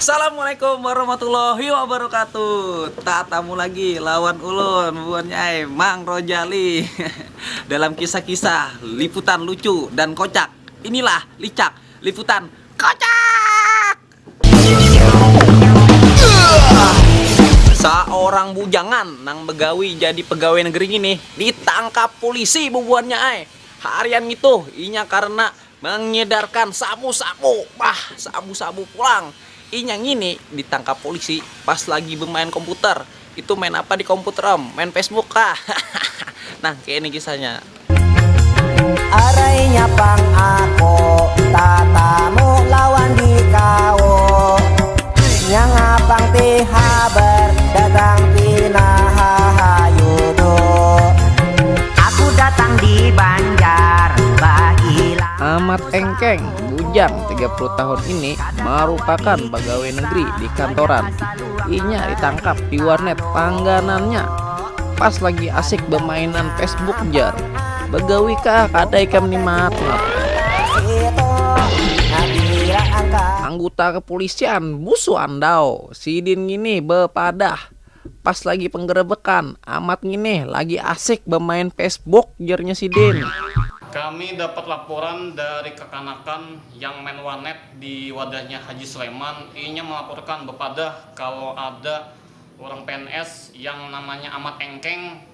Assalamualaikum warahmatullahi wabarakatuh Tatamu lagi lawan ulun Buannya Mang Rojali Dalam kisah-kisah liputan lucu dan kocak Inilah licak liputan kocak Saorang bujangan nang bagawi jadi pegawai negeri ngini ditangkap pulisi bubuhannya ai harian ngitu inya karena mengedarkan sabu-sabu bah sabu-sabu pulang inya ngini ditangkap pulisi pas lagi bemain komputer Itu main apa di komputer om? Main Facebook kah? Hahaha. Nah kaya ini kisahnya. Arainya pang ako tatamu lawan dikawo Nya ngapang ti habar datang pina hahayu do Aku datang di banjar baila Amat Engkeng, bujang tiga puluh tahun ini marupakan pagawai negeri di kantoran. inya ditangkap di warnet langganannya pas lagi asik bermainan Facebook jar begawi kah kada ikam ni mat anggota kepolisian busu andau sidin ngini bepadah pas lagi penggerebekan amat ngini lagi asik bermain Facebook jernya sidin. Kami dapat laporan dari kekanakan yang main warnet Di wadahnya Haji Sleman, inya malaporkan bapadah kalo ada urang pns yang namanya Amat Engkeng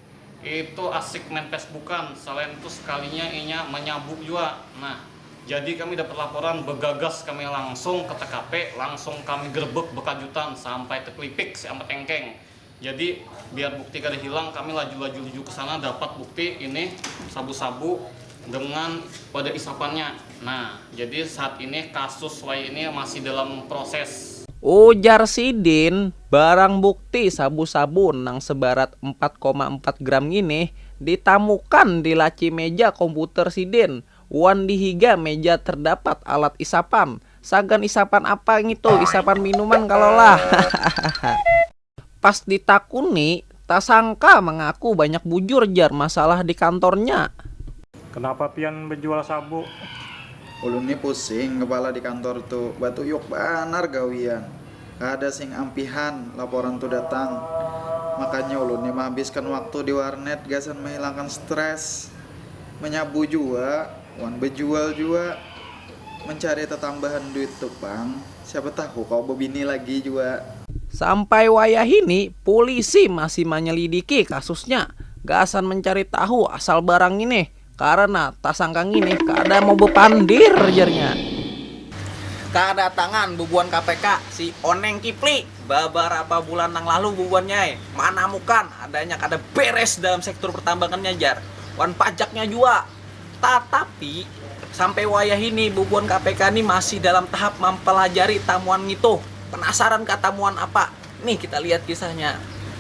itu asik main Facebookan, salain itu sekalinya inya manyabu jua. Nah, jadi kami dapat laporan, bagagas kami langsung ke tkp, langsung kami grebek bekajutan sampai teklipik si Amat Engkeng. Jadi biar bukti kada hilang kami laju-laju luju ke sana dapat bukti ini sabu-sabu dengan pada isapannya. Nah, jadi saat ini kasus wai ini masih dalam proses. Ujar sidin, barang bukti sabu-sabu nang sebarat empat koma empat gram nginih ditamukan di laci meja komputer sidin. Wan di higa meja terdapat alat isapan. Sagan isapan apa ngitu, isapan minuman kalo lah. Hahahaha. Pas ditakuni, tasangka mengaku banyak bujur jar masalah di kantornya. Kenapa pian bejual sabu? Ulun ni pusing kepala di kantor tu, batuyuk banar gawian. Kada sing ampihan laporan tu datang. Makanya ulun ni mehabiskan waktu di warnet gasan menghilangkan stres. Manyabu jua wan bajual jua mancari tatambahan duit tu pang, siapa tahu kawa babini lagi jua. Sampai wayahini pulisi masih manyelidiki kasusnya gasan mancari tahu asal barang nginih karena tasangka nginih kada mau bapandir jarnya. Kadatangan bubuhan KPK si Oneng Kipli. Babarapa bulan nang lalu bubuhannyai manamukan adanya kada beres dalam sektor pertambangannya jar, wan pajaknya jua. Tatapi, sampai wayah ini bubuhan KPK ni masih dalam tahap mampalajari tamuan ngitu. Penasaran kah tamuan apa? Nih kita lihat kisahnya.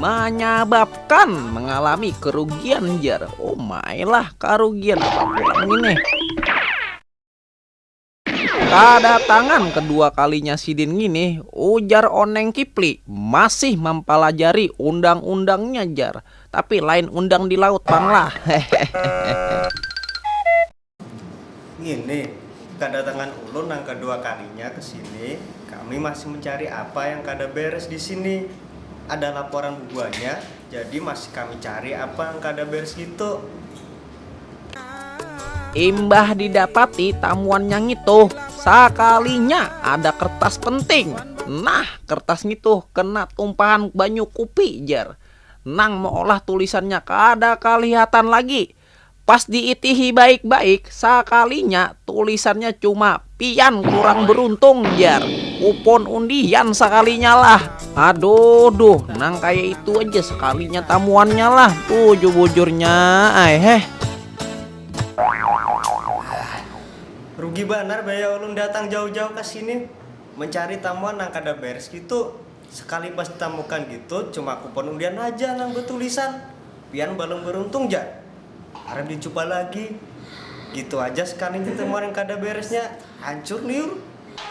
Manyababkan mengalami kerugian jar. Oh my lah kerugian apa pulang ini. Kedatangan kedua kalinya sidin ngini, ujar Oneng Kipli, masih mempelajari undang-undangnya jar. Tapi lain undang di laut pang lah. Hehehe. Ngini, kadatangan ulun nang kadua kalinya ke sini, kami masih mencari apa yang kada beres di sini. Ada laporan bubuhannya, jadi masih kami cari apa nang kada beres ngitu. Imbah didapati tamuannya ngitu, sakalinya ada kertas penting. Nah, kertas ngitu kena tumpahan banyu kupi, jar. Nang meolah tulisannya kada kalihatan lagi. Pas diitihi baik-baik, sakalinya tulisannya cuma Pian kurang beruntung jar, kupon undian sakalinya lah. Aduh duh, nang kaya itu aja sekalinya tamuannya lah, bujur-bujurnya ai heh. Rugi banar baya ulun datang jauh-jauh ka sini mencari tamuan nang kada beres gitu. Sekali pas tamukan gitu cuma kupon undian haja nang betulisan pian balum beruntung ja. Harap dicuba lagi. Gitu haja sekali tetemuan yang kada beresnya. Hancur liur.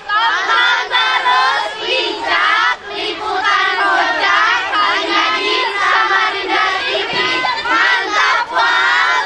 Paham tarus Pincak, Liputan Rojak, Panyadin, Samarinda TV, mantap pang.